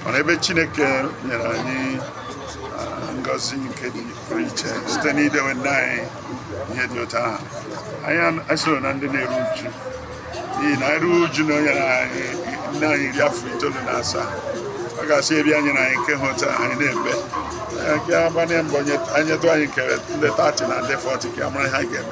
mana ebe Chineke nyere anyị ah, ngọzi nke dị pụrụ iche site n'idewe nne anyị ihe dị otu ahụ anyị esoro na ndị na-eru uju n'ihi na anyị ruo uju na o nyere anyị nne anyị iri afọ itoolu na asaa ọ ga-asị ebe anyị na anyị nke ha otu anyị na-ebe nke agbanye mbọ anyị tụ anyị kere ndị tati na ndị fọti ka mara ha ga-eme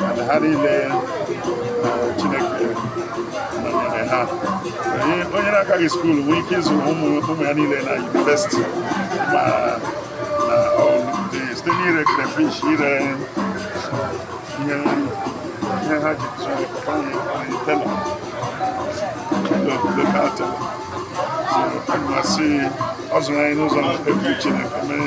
mana ha niile Chineke nọnyere ha onye na-agaghị skuulu nwee ike ịzụ ụmụ ya niile na yunivesiti ma na site n'ire crayfish ire ihe ihe ha ji zụrụ papa anyị tailor local tailor so aga m asị ọ zụrụ anyị n'ụzọ na-ekpebiri Chineke mere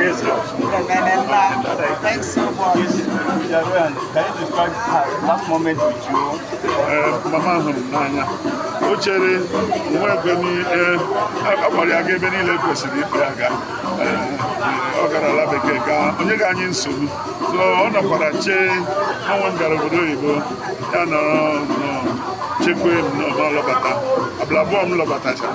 Yes, sir. Thanks so much. Yes, Jagoyan, can you describe her last moment with you? Uh, Mama hụrụ m n'anya. O chere nwa ebe niile, a kpọrọ ya aga ebe niile kwesịrị ịkpọ ya aga. Ọ gara ala bekee gaa, o nyeghị anyị nsogbu. So ọ nọkwara chee ọnwa m gara obodo oyibo, ya nọrọ nnọọ chekwa m m alọbata. Abalị abụọ m lọbatachara.